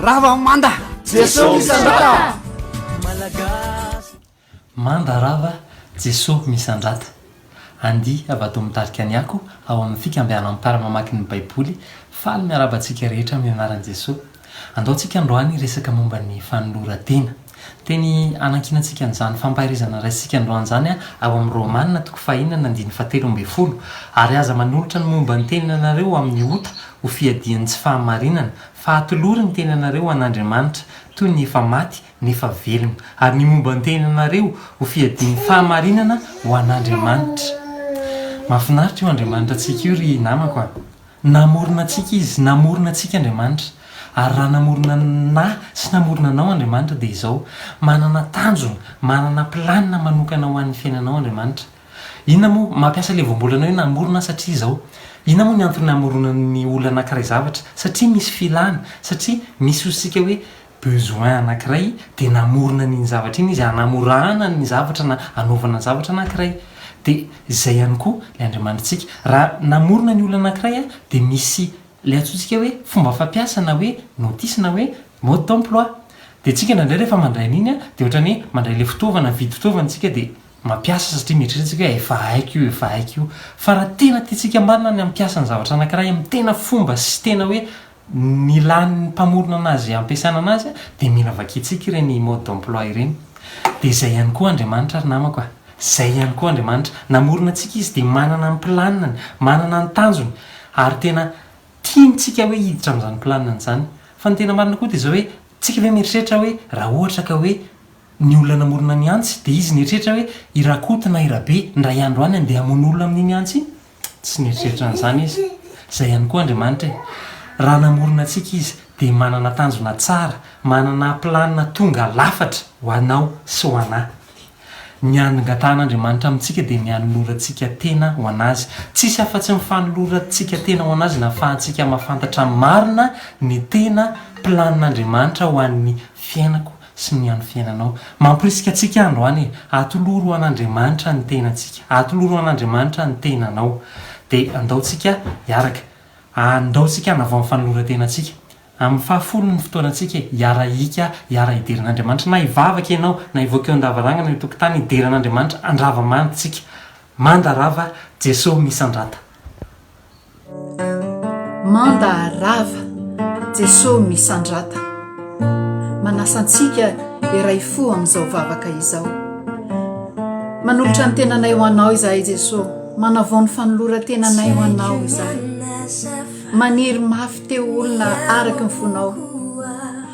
Rava manda! Jeso misandrata! Malagasy. Manda rava, Jeso misandrata! Andia havadoo mitarika ny ako ao amin'ny fikambianan'ny mpiara-mamaky ny Baiboly faly miarahaba antsika rehetra amin'ny anaran'i Jeso. Andao tsika androany hiresaka momba ny fanoloran-tena. Teny hanankiana antsika an'izany fampaherezana raisintsika androany izany ao amin'ny Romana toko fahaenina andininy fahatelo ambin'ny folo, ary aza manolotra ny momba ny teninanareo amin'ny ota ho fiadian'ny tsy fahamarinana Fa atolory ny tenanareo ho an'Andriamanitra, toy ny efa maty nefa velona, ary ny momba ny tenanareo ho fiadian'ny fahamarinana ho an'Andriamanitra. Mahafinaritra io Andriamanitratsika io ry namako a! Namorona antsika Izy, namorona antsika Andriamanitra. Ary raha namorona anah sy namorona anao Andriamanitra dia izao, manana tanjona, manana planina manokana ho an'ny fiainanao Andriamanitra. Inona moa, mampiasa ilay voambolana hoe namorona aho satria izao. Inona moa ny antony namoronan'ny olona anankiray zavatra? Satria misy filana, satria misy ozintsika hoe besoin anankiray dia namorona an'iny zavatra iny izy hanamorana ny zavatra na hanaovana ny zavatra anankiray. Dia izay ihany koa ilay Andriamanitrtsika. Raha namorona ny olona anankiray aho dia misy ilay antsointsika hoe fomba fampiasa na hoe notice na hoe mode d'emploi. Dia tsika indraindray rehefa mandray an'iny dia ohatran'ny hoe mandray ilay fitaovana, mividy fitaovana tsika dia. mampiasa satria mieritreritra isika hoe efa haiko io, efa haiko io. Fa raha tena tiantsika marina ny hampiasa ny zavatra anankiray amin'ny tena fomba sy tena hoe nilan'ny mpamorona anazy hampiasana anazy dia mila vakiantsika ireny mode d'emploi ireny. Dia izay ihany koa Andriamanitra ry namako a! Izay ihany koa Andriamanitra. Namorona antsika Izy dia manana ny planinany, manana ny tanjony ary tena tiantsika hoe hiditra amin'izany planinany izany. Fa ny tena marina koa dia izao hoe, tsika ve mieritreritra hoe raha ohatra ka hoe, Ny olona namorona ny antsy dia izy nieritreritra hoe i Rakoto na i Rabe indray andro any handeha hamono olona amin'iny antsy iny? Tsy nieritreritra an'izany izy. Izay ihany koa Andriamanitra e! Raha namorona antsika izy dia manana tanjona tsara, manana planina tonga lafatra ho anao sy ho anà. Ny angatan'Andriamanitra amintsika dia ny hanolorantsika tena ho an'Azy. Tsisy afa-tsy ny fanolorantsika tena ho an'Azy no ahafahantsika mahafantatra marina ny tena planin'Andriamanitra ho an'ny fiainako sy ny an'ny fiainanao. Mamporisika antsika androany e! Atoloro an'Andriamanitra ny tenantsika, atoloro an'Andriamanitra ny tenanao, dia andao tsika hiaraka, andao tsika hanavao ny fanoloran-tenantsika, amin'ny fahafolony ny fotoanantsika e! Hiara-hiika, hiara-hidera an'Andriamanitra, na hivavaka ianao, na hivoaka eo an-davarangana, eny an-tokotany, hidera an'Andriamanitra, handrava manda tsika, manda rava Jeso misandrata. Manda rava Jeso misandrata Manasa antsika hiray fo amin'izao vavaka izao Manolotra ny tenanay ho Anao izahay Jeso Manavao ny fanoloran-tenanay ho Anao izahay Maniry mafy te ho olona araky ny fonao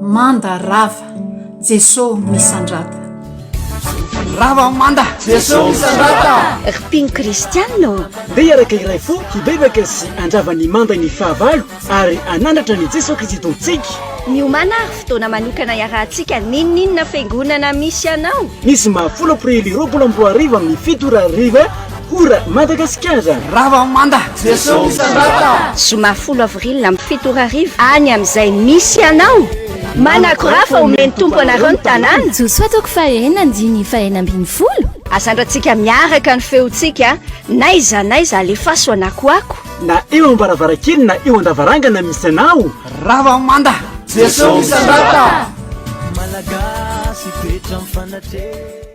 Manda rava Jeso misandrata. Rava manda Jeso misandrata. Ry Ping Christian ô. Ndeha hiaraka iray fo hibebaka sy handrava ny manda ny fahavalo ary hanandratra an'i Jeso Kristy Tompontsika. Miomàna ary fotoana manokana hiarahantsika N'inon'inona fiangonana misy anao? Ny zoma folo aprily roapolo amby roa arivo amin'ny fito ora hariva. Ora, Madagasikara! Rava manda! Jesosy misandrata! Zoma folo avril amin'ny fito ora hariva any amin'izay misy anao! Manakora fa omeny ny Tompo anareo ny tanàna! Josoa toko fahaenina andininy fahenina ambin'ny folo. Asandrantsika miaraka ny feontsika n'aiza n'aiza alefaso anakoako. Na eo ambaravarankely na eo andavarangana misy anao. Rava manda! Jesosy misandrata! Malagasy toetra mifanatre.